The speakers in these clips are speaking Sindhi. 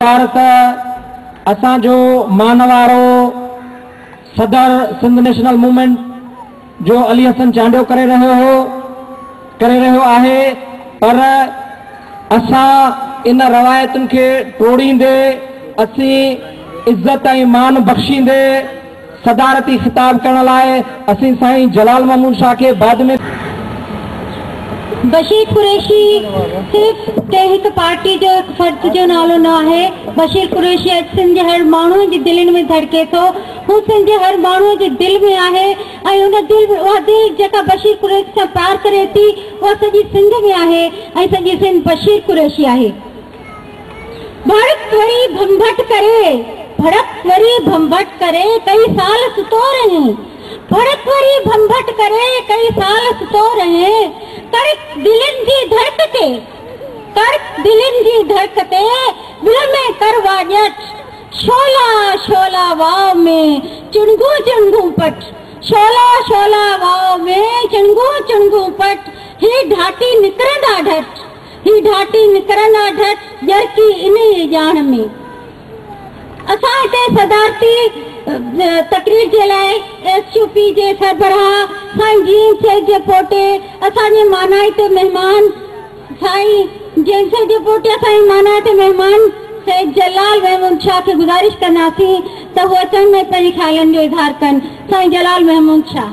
پارت اسان جو مان وارو صدر سنڌ نيشنل موومينٽ جو علي حسن چانڊيو ڪري رهيو هو ڪري رهيو آهي پر اسان ان روايتن کي ٽوڙيندي اسين عزت ۽ مان بخشيندي صدارتي خطاب ڪرڻ لاء اسين سائين جلال محمود شاهه کي بعد ۾. بشير قريشي صرف ڪنهن هڪ پارٽي جو هڪ فرد جو نالو نه آهي، بشير قريشي اڄ سنڌ جي هر ماڻهوء جي دلين ۾ ڌڙڪي ٿو، هو سنڌ جي هر ماڻهوء جي دل ۾ آهي ۽ ان دل اها دل جيڪا بشير قريشي سان پيار ڪري ٿي اها سڄي سنڌ ۾ آهي ۽ سڄي سنڌ بشير قريشي آهي. ڀڙڪ وري ڀنڀٽ ڪري، ڀڙڪ وري ڀنڀٽ ڪري، ڪئي سال ستو رهين. ڀڙڪ وري ڀنڀٽ ڪري، ڪئي سال ستو رهين. ڪڙڪ دلين جي ڌڙڪ تي، ڪڙڪ دلين جي ڌڙڪ تي، ٻل ۾ ڪر واڄٽ. شعلا شعلا واء ۾ چڻگون چڻگون پٽ، شعلا شعلا واء ۾ چڻگون چڻگون پٽ، هي ڍاٽي نڪرندا ڍٽ. هي ڍاٽي نڪرن آ ڍٽ ڄرڪي انهي ئي ڄاڻ ۾. اسان هتي صدارتي تقرير جي لاء ايس يو پي جي سربراهه سائين جين سيد جي پوٽي اسان جي مانائي تي مهمان سائين جين سيد جي پوٽي اسان جي مانائي تي مهمان سيد جلال محمود شاهه کي گذارش ڪنداسين ته هو اچڻ ۾ پنهنجي خيالن جو اظهار ڪن سائين جلال محمود شاهه.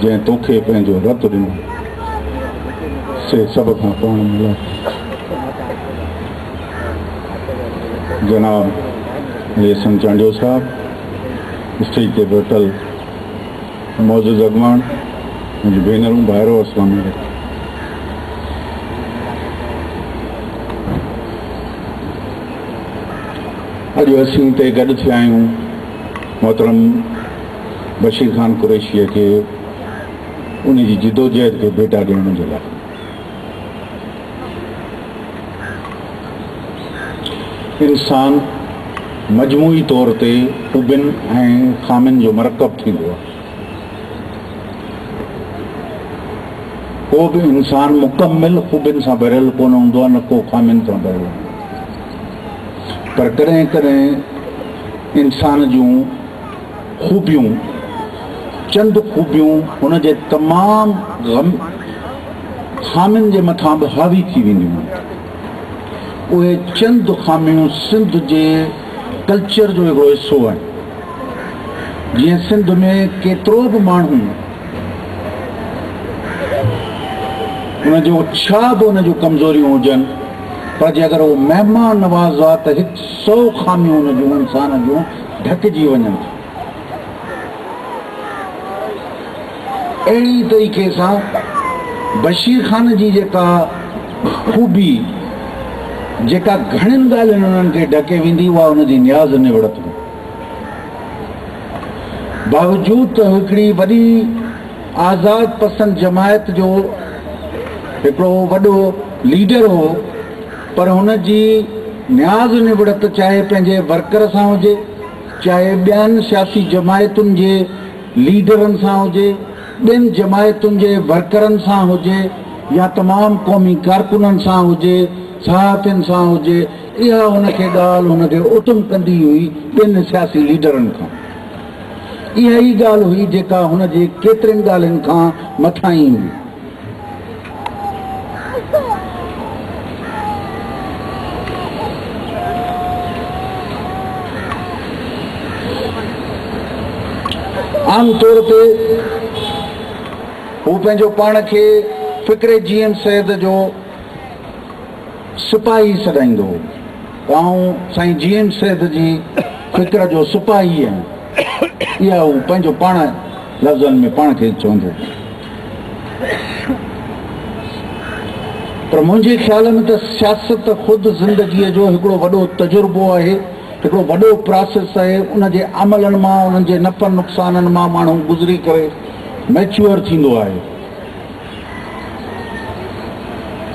جنهن توکي پنهنجو رت ڏنو سي سڀ کان پاڻ ملائي جناب ليسن چانڊيو صاحب اسٽيج تي بيٺل معزز اڳواڻ منهنجي ڀينرون ڀائرو اسلام علیکم اڄ اسين تي گڏ ٿيا آهيون محترم بشير خان قريشيء کي ان جي جدوجهد کي ڀيٽا ڏيڻ جي لاء انسان مجموعي طور تي خوبين ۽ خامين جو مرڪب ٿيندو آهي ڪو به انسان مڪمل خوبين سان ڀريل ڪونه هوندو آهي نه ڪو خامين سان ڀريل پر ڪڏهن ڪڏهن انسان جون خوبيون، چند خوبيون هن جي تمام غم خامين جي مٿان به حاوي ٿي وينديون آهن. اهي چند خاميون سنڌ جي ڪلچر جو هڪڙو حصو آهن. جيئن سنڌ ۾ ڪيترو به ماڻهو ان جو ڇا به ان جون ڪمزوريون هجن پر جي اگر هو مهمان نواز آ ته هڪ سو خاميون ان جون انسان جون ڍڪجي وڃن ٿا. اهڙي طريقي سان بشير خان جي جيڪا خوبي جيڪا گهڻين ڳالهين انهن کي ڍڪي ويندي اها ان جي نياز نوڙت هئي. باوجود ته هڪڙي وڏي آزاد پسند جماعت جو هڪڙو وڏو ليڊر هو پر هن جي نياز نبڙت چاهي پنهنجي ورڪر سان هجي، چاهي ٻين سياسي جماعتن جي ليڊرن سان هجي، ٻين جماعتن جي ورڪرن سان هجي يا تمام قومي ڪارڪنن سان هجي، صحافين سان هجي، اها هن کي ڳالهه هن کي اتم ڪندي هئي ٻين سياسي ليڊرن کان. اها ئي ڳالهه هئي جيڪا هن جي ڪيترين ڳالهين کان مٿاهين هئي. عام طور تي هو پنهنجو پاڻ کي فڪر جي ايم سيد جو سپاهي سڏائيندو هو آئون سائين جي ايم سيد جي فڪر جو سپاهي آهيان اها هو پنهنجو پاڻ لفظن ۾ پاڻ کي چوندو هو پر منهنجي خيال ۾ ته سياست خود زندگيء جو هڪڙو وڏو تجربو آهي، هڪڙو وڏو پراسيس آهي، ان جي عملن مان، انهن جي نفعن نقصانن مان ماڻهو گذري ڪري ميچوئر ٿيندو آهي.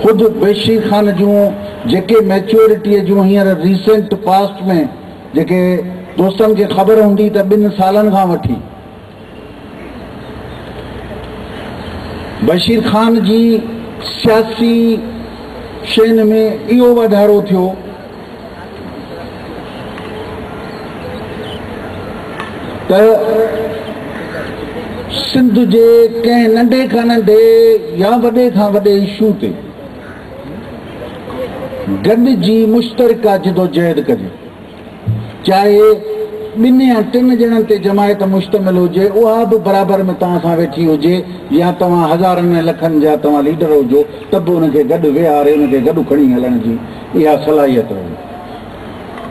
خود ويشي خان جون جيڪي ميچوئرٽيء جون هينئر ريسينٽ پاسٽ ۾ جيڪي دوستن کي خبر هوندي ته ٻن سالن کان وٺي، بشير خان جي سياسي شين ۾ اهو واڌارو ٿيو ته سنڌ جي ڪنهن ننڍي کان ننڍي يا وڏي کان وڏي اشو تي گڏجي مشترڪه جدوجهد ڪجي چاهي ٻن يا ٽن ڄڻن تي جماعت مشتمل هجي، اها به برابر ۾ توهان سان ويٺي هجي يا توهان هزارن ۽ لکن جا توهان ليڊر هجو ته به ان کي گڏ ويهاري ان کي گڏ کڻي هلڻ جي اها صلاحيت رهي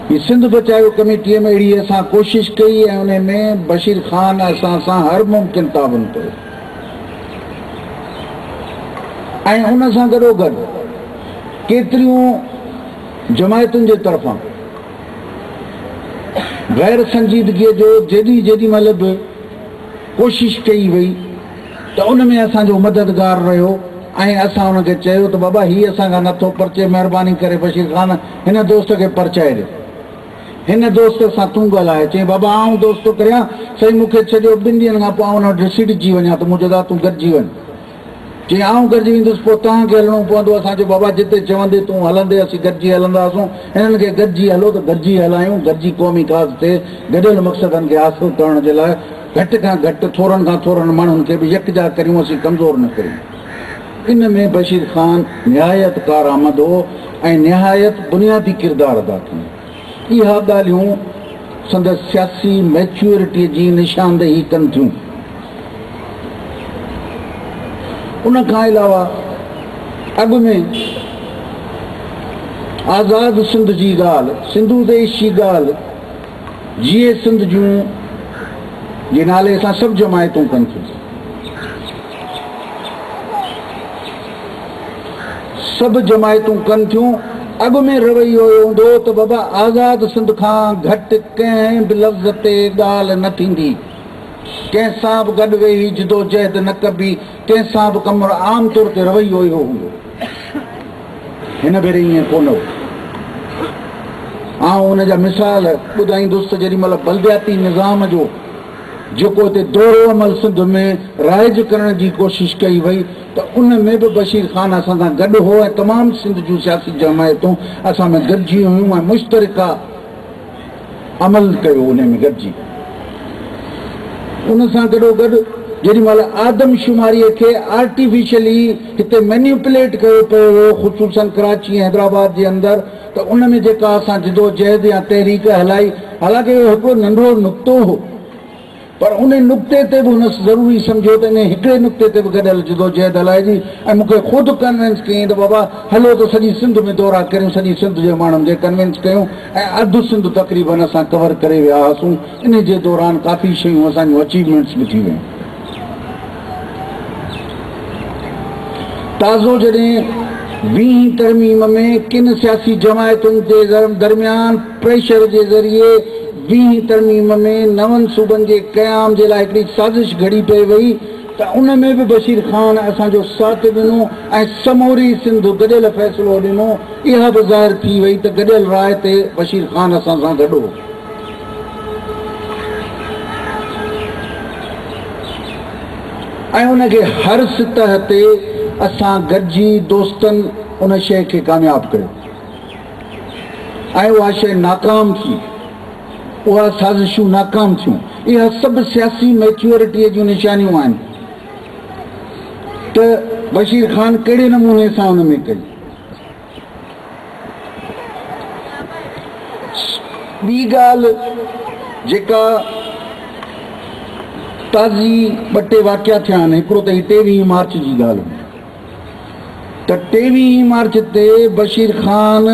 ٿي. سنڌ بچايو ڪميٽيء ۾ اهڙي اسان ڪوشش ڪئي ۽ ان ۾ بشير خان اسان سان هر ممڪن تعاون ڪيو ۽ ان سان گڏوگڏ ڪيتريون جماعتن جي طرفان غير سنجيدگيء جو جيڏي جيڏي مهل به ڪوشش ڪئي وئي ته ان ۾ اسان جو مددگار رهيو ۽ اسان ان کي چيو ته بابا هي اسان کان نه ٿو پرچي مهرباني ڪري بشير خان هن دوست کي پرچائي ڏي هن دوست سان تون ڳالهاء چيائين بابا آئون دوست ٿو ڪريان سائين مون کي ڇڏيو ٻن ڏينهن کان پوء آئون ان وٽ رسيٽجي وڃان ته منهنجو دا تون گڏجي وڃ جي آئون گڏجي ويندس پوء توهان کي هلڻو پوندو اسان جو بابا جتي چوندي تون هلندي اسين گڏجي هلنداسون هنن کي گڏجي هلو ته گڏجي هلايون گڏجي قومي ڪاز تي گڏيل مقصدن کي حاصل ڪرڻ جي لاء گهٽ کان گهٽ ٿورن کان ٿورن ماڻهن کي به يڪجا ڪريون اسين ڪمزور نه ڪريون ان ۾ بشير خان نهايت ڪارآمد هو ۽ نهايت بنيادي ڪردار ادا ڪيو اها ڳالهيون سندس سياسي ميچيورٽيء جي نشاندهي ڪن ٿيون. ان کان علاوه اڳ ۾ آزاد سنڌ جي ڳالهه، سنڌو ديش جي ڳالهه، جيئي سنڌ جون جي نالي سان سڀ جماعتون ڪن ٿيون. سڀ جماعتون ڪن ٿيون. اڳ ۾ رويو اهو هوندو هو ته بابا آزاد سنڌ کان گهٽ ڪنهن به لفظ تي ڳالهه نه ٿيندي، ڪنهن سان به گڏ ويهي جدوجهد نه ڪبي، ڪنهن سان به ڪم نه. عام طور تي رويو اهو هوندو هو. هن ڀيري ائين ڪو نه هو. آئون ان جا مثال ٻڌائيندس ته جيڏي مهل بلدياتي نظام جو جيڪو اتي دورو عمل سنڌ ۾ رائج ڪرڻ جي ڪوشش ڪئي وئي ته ان ۾ به بشير خان اسان سان گڏ هو ۽ تمام سنڌ جون سياسي جمعيتون اسان ۾ گڏجي هيون ۽ مشترڪه عمل ڪيو انهي ۾ گڏجي ان سان گڏوگڏ جيڏي مهل آدم شماري کي آرٽيفيشلي هتي مينيوپليٽ ڪيو پيو ويو خصوصن ڪراچي ۽ حيدرآباد جي اندر ته ان ۾ جيڪا اسان جدوجهد يا تحريڪ هلائي، حالانڪ اهو هڪڙو ننڍڙو نقطو هو، پر ان نقطي تي به هن ضروري سمجهيو ته انهي هڪڙي نقطي تي به گڏيل جدوجهد هلائجي ۽ مون کي خود ڪنوينس ڪيائين ته بابا هلو ته سڄي سنڌ ۾ دورا ڪريون، سڄي سنڌ جي ماڻهن کي ڪنوينس ڪيون ۽ اڌ سنڌ تقريبن اسان ڪور ڪري ويا هئاسون، انهي جي دوران ڪافي شيون اسان جون اچيومينٽس به ٿي ويون. تازو جڏهن ويهين ترميم ۾ ڪن سياسي جماعتن تي درميان پريشر جي ذريعي ويهين ترميم ۾ نون صوبن جي قيام جي لاء هڪڙي سازش گهڙي پئي وئي ته ان ۾ به بشير خان اسان جو ساٿ ڏنو ۽ سموري سنڌ گڏيل فيصلو ڏنو اها به ظاهر ٿي وئي ته گڏيل راء تي بشير خان اسان سان گڏ هو. ۽ ان کي هر سطح تي اسان گڏجي دوستن ان شيء کي ڪامياب ڪيو ۽ اها شيء ناڪام ٿي اها سازشون ناڪام ٿيون اها سڀ سياسي ميچورٽيء جون نشانيون آهن ته بشير خان ڪهڙي نموني سان ان ۾ ڪئي ٻي ڳالهه جيڪا تازي ٻه ٽي واقعا ٿيا آهن هڪڙو ته هي ٽيويهين مارچ جي ڳالهه هئي ته ٽيويهين مارچ تي بشير خان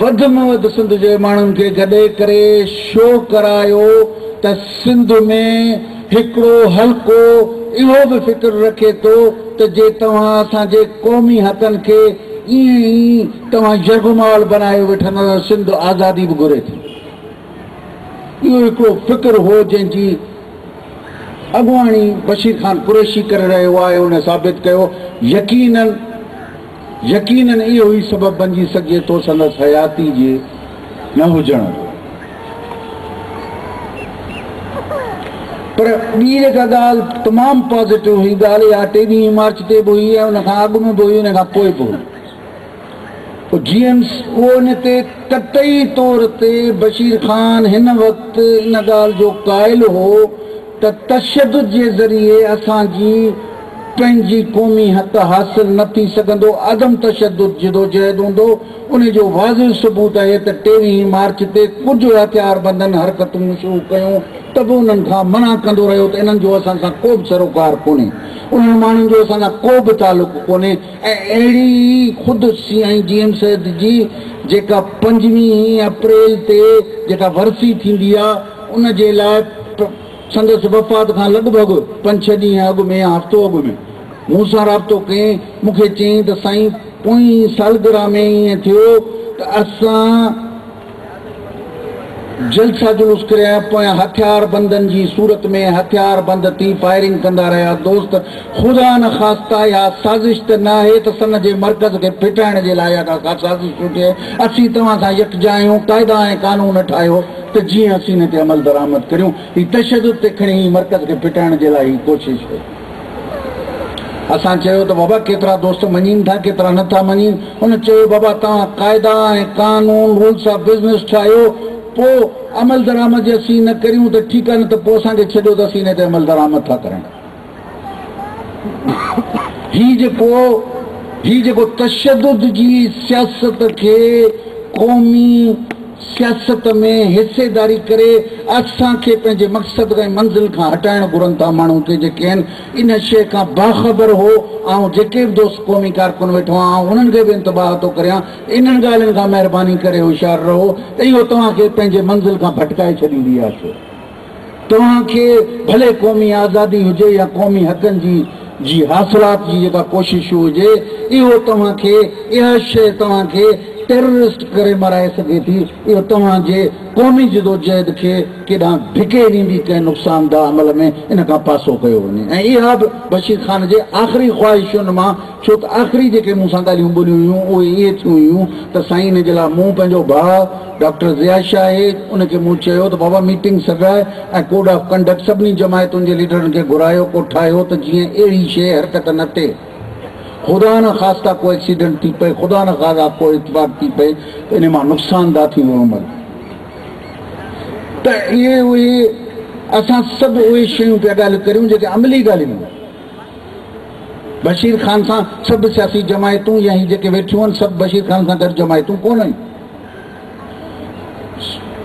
وڌ ۾ وڌ سنڌ جي ماڻهن کي گڏي ڪري شو ڪرايو ته سنڌ ۾ هڪڙو حلقو اهو به فڪر رکي ٿو ته جي توهان اسان جي قومي حقن کي ائين ئي توهان يرغمال بنايو ويٺا ته سنڌ آزادي به گهري ٿي. اهو هڪڙو فڪر هو جنهن جي اڳواڻي بشير خان قريشي ڪري رهيو آهي ۽ هن ثابت ڪيو يقينن يقيناً اهو ئي سبب بنجي سگهجي ٿو سندس حياتي جي نه هجڻ جو. پر ٻي جيڪا ڳالهه تمام پازيٽو هئي، ڳالهه اها ٽيويهين مارچ تي به هئي ۽ ان کان اڳ ۾ به هئي ان کان پوء به هئي. پوء جيمس اهو ان تي قطعي طور تي بشير خان هن وقت ان ڳالهه جو قائل هو ته تشدد جي ذريعي اسان جي پنهنجي قومي حق حاصل نه ٿي سگهندو، عدم تشدد جدوجهد هوندو، ان جو واضح ثبوت اهي ته ٽيويهين مارچ تي ڪجهه هٿياربندن حرڪتون شروع ڪيون ته به انهن کان منع ڪندو رهيو ته انهن جو اسان سان ڪو به سروڪار ڪونهي، انهن ماڻهن جو اسان سان ڪو به تعلق ڪونهي ۽ اهڙي ئي خود سي ۽ جي ايم سيد جي جيڪا پنجويهين اپريل تي جيڪا ورسي ٿيندي آهي ان جي لاء سندس وفات کان لڳ ڀڳ پنج ڇهه ڏينهن اڳ ۾ يا هفتو اڳ ۾، مون سان رابطو ڪئين، مون کي چيائين ته سائين پوئين سالگرهه ۾ ائين ٿيو ته اسان جلسا جلوس ڪريا پويان هٿيار بندن جي صورت ۾ هٿيار بند ٿي فائرنگ ڪندا رهيا دوست خدا نه خاستة اها سازش ته نه آهي ته سن جي مرڪز کي ڦٽائڻ جي لاء اها ڪا سازش ٿي ٿئي اسين توهان سان يڪجا آهيون قاعدا ۽ قانون ٺاهيو ته جيئن اسين ان تي عملدرآمد ڪريون. هي تشدد تي کڻي هي مرڪز کي ڦٽائڻ جي لاء هي ڪوشش هئي. اسان چيو ته بابا ڪيترا دوست مڃين ٿا ڪيترا نه ٿا مڃين. هن چيو بابا توهان قاعدا ۽ قانون، رولس آف بزنس، ٺاهيو پو عملدرآمد جي اسين نه ڪريون ته ٺيڪ آهي نه ته پو اسان کي ڇڏيو ته اسين ان تي عملدرآمد ٿا ڪريون. هي جيڪو هي جيڪو تشدد جي سياست کي قومي سياست ۾ حصيداري ڪري اسان کي پنهنجي مقصد ۽ منزل کان هٽائڻ گهرن ٿا ماڻهو ڪي جيڪي آهن ان شيء کان باخبر هو آئون جيڪي به دوست قومي ڪارڪن ويٺو آهن آئون انهن کي به انتباه ٿو ڪريان انهن ڳالهين کان مهرباني ڪري هوشيار رهو اهو توهان کي پنهنجي منزل کان ڀٽڪائي ڇڏيندي آهي توهان کي ڀلي قومي آزادي هجي يا قومي حقن جي جي حاصلات جي جيڪا ڪوشش هجي اهو توهان کي اها شيء توهان کي ٽيررسٽ ڪري مرائي سگهي ٿي اهو توهان جي قومي جدوجهد کي ڪيڏانهن ڌڪي ڏيندي ڪنهن نقصانده عمل ۾ ان کان پاسو ڪيو وڃي ۽ اها به بشير خان جي آخري خواهشن مان ڇو ته آخري جيڪي مون سان ڳالهيون ٻولهيون هيون اهي اهي ٿيون هيون ته سائين ان جي لاء مون پنهنجو ڀاء ڊاڪٽر ضياء شاهد ان کي مون چيو ته بابا ميٽنگ سڏرائي ۽ ڪوڊ آف ڪنڊڪٽ سڀني جماعتن جي ليڊرن کي گهرايو ڪو ٺاهيو ته جيئن اهڙي شيء حرڪت نه ٿئي خدا نه خاسته ڪو ايڪسيڊنٽ ٿي پئي خدا نه خاصا ڪو اتفاق ٿي پئي ته انهي مان نقصان ده ٿيندو عمل ته اهي اهي اسان سڀ اهي شيون پيا ڳالهيون ڪريون جيڪي عملي ڳالهيون بشير خان سان سڀ سياسي جماعتون يا هي جيڪي ويٺيون آهن سڀ بشير خان سان گڏ جماعتون ڪونه هيون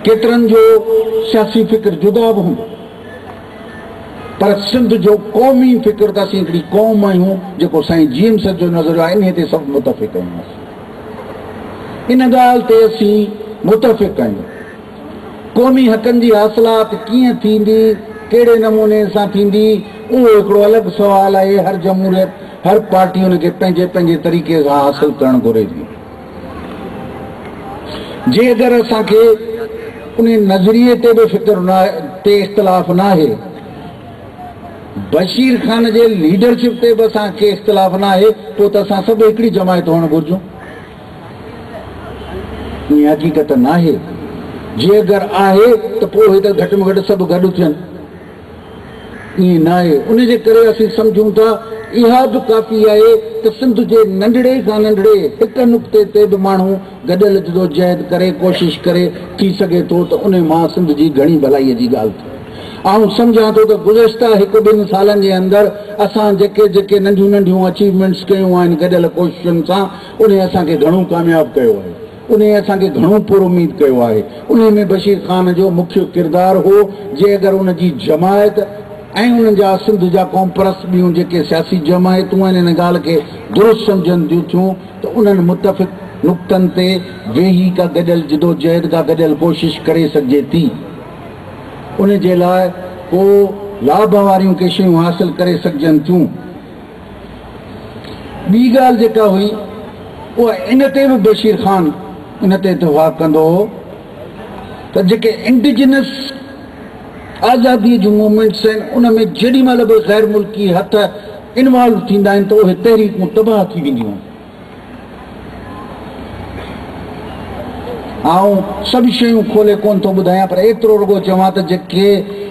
ڪيترن جو سياسي فڪر جدا به هوندو پر سنڌ جو قومي فڪر ته اسين هڪڙي قوم آهيون جيڪو سائين جي ايم سيد جو نظريو آهي انهي تي سڀ متفق آهيون ان ڳالهه تي اسين متفق آهيون قومي حقن جي حاصلات ڪيئن ٿيندي ڪهڙي نموني سان ٿيندي اهو هڪڙو الڳ سوال آهي هر جمهوريت هر پارٽي ان کي پنهنجي پنهنجي طريقي سان حاصل ڪرڻ گهري ٿي جي اگر اسان کي ان نظريي تي به فڪر نه تي اختلاف نه آهي بشير خان جي ليڊرشپ تي به اسان کي اختلاف نه آهي پوء ته اسان سڀ هڪڙي جماعت هئڻ گهرجون ائين حقيقت نه آهي جي اگر آهي ته پوء هي ته گهٽ ۾ گهٽ سڀ گڏ ٿين ائين ناهي، ان جي ڪري اسين سمجهون ٿا اها به ڪافي آهي ته سنڌ جي ننڍڙي کان ننڍڙي هڪ نقطي تي به ماڻهو گڏيل جدوجهد ڪري، ڪوشش ڪري، ٿي سگهي ٿو ته ان مان سنڌ جي گهڻي ڀلائي جي ڳالهه ٿئي. آئون سمجهان ٿو ته گذشته هڪ ٻن سالن جي اندر اسان جيڪي جيڪي ننڍيون ننڍيون اچيومينٽس ڪيون آهن گڏيل ڪوششن سان انهي اسان کي گهڻو ڪامياب ڪيو آهي. انهيء اسان کي گهڻو پر اميد ڪيو آهي. انهيء ۾ بشير خان جو مکيه ڪردار هو، جي اگر ان جي جماعت ۽ انهن جا سنڌ جا قومپرست ٻيون جيڪي سياسي جماعتون آهن ان ڳالهه کي درست سمجهن ديون ٿيون ته انهن متفق نقطن تي ويهي ڪا گڏيل جدوجهد ڪا گڏيل ڪوشش ڪري سگهجي ٿي ان جي لاء ڪو لاڀ واريون ڪي شيون حاصل ڪري سگهجن ٿيون. ٻي ڳالهه جيڪا هئي اها ان تي به بشير خان ان تي اتفاق ڪندو هو ته جيڪي انڊيجنس آزادي جون موومينٽس آهن ان ۾ جيڏي مهل به غير ملڪي هٿ انوالو ٿيندا آهن ته اهي تحريڪون تباهه ٿي وينديون آهن آئون سڀ شيون کولي ڪونه ٿو ٻڌايان پر ايترو رڳو چوان ته جيڪي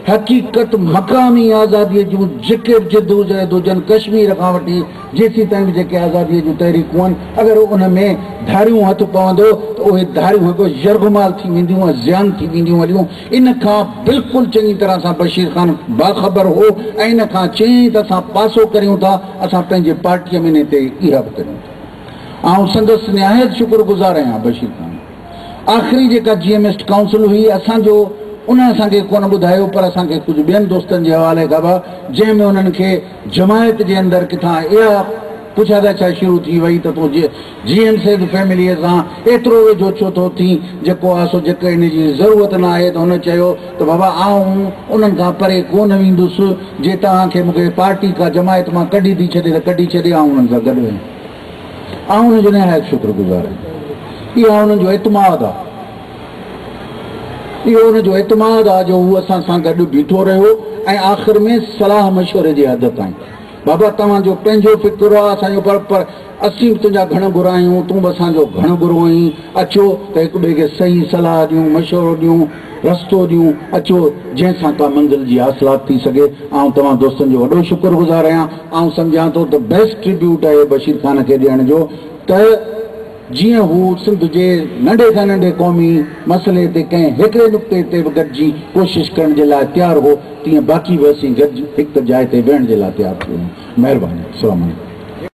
حقيقت مقامي آزادي جون جيڪي به جدوجهد هجن ڪشمير کان وٺي جيسين تائين به جيڪي آزادي جون تحريڪون آهن اگر ان ۾ ڌاريون هٿ پوندو ته اهي ڌاريون هڪ يرغمال ٿي وينديون ۽ زيان ٿي وينديون هليون ان کان بلڪل چڱي طرح سان بشير خان باخبر هو ۽ ان کان چيائين ته اسان پاسو ڪريون ٿا، اسان پنهنجي پارٽيء ۾ انهيء تي ايرا به ڪريون ٿا. آئون سندس نهايت شڪر گذار آهيان بشير خان. آخري جيڪا جي ايم ايسٽ ڪائونسل هئي، اسان جو انهن اسان کي ڪونه ٻڌايو پر اسان کي ڪجهه ٻين دوستن جي حوالي خبر جنهن ۾ انهن کي جماعت جي اندر ڪٿان اها پڇا ڳاڇا شروع ٿي وئي ته تون جي جي ايم سيد فيمليء سان ايترو ويجهو ڇو ٿو ٿين جيڪو آء سو جيڪر ان جي ضرورت نه آهي ته هن چيو ته بابا آئون انهن کان پري ڪو نه ويندس جي توهان کي مون کي پارٽي ڪا جماعت مان ڪڍي ٿي ڇڏي ته ڪڍي ڇڏي آئون انهن سان گڏ ويندس آئون ان جو نهايت شڪر گذار آهيان اها ان جو اعتماد آهي اهو ان جو اعتماد آهي جو هو اسان سان گڏ بيٺو رهيو ۽ آخر ۾ صلاح مشوري جي حد تائين بابا توهان جو پنهنجو فڪر آهي اسان جو پر اسين به تنهنجا گهڻ گر آهيون، تون به اسان جو گهڻ گرو آهين، اچو ته هڪ ٻئي کي صحيح صلاح ڏيون، مشورو ڏيون، رستو ڏيون، اچو جنهن سان ڪا منزل جي حاصلات ٿي سگهي، آئون توهان دوستن جو وڏو شڪر گذار آهيان، آئون سمجهان ٿو ته بيسٽ ٽريبيوٽ اهي بشير خان کي ڏيڻ جو ته جيئن هو سنڌ جي ننڍي کان ننڍي قومي مسئلي تي ڪنهن هڪڙي نقطي تي به گڏجي ڪوشش ڪرڻ جي لاء تيار هو تيئن باقي به اسين گڏجي هڪ جاء تي ويهڻ جي لاء تيار ٿي ويون مهرباني السلام عليڪم.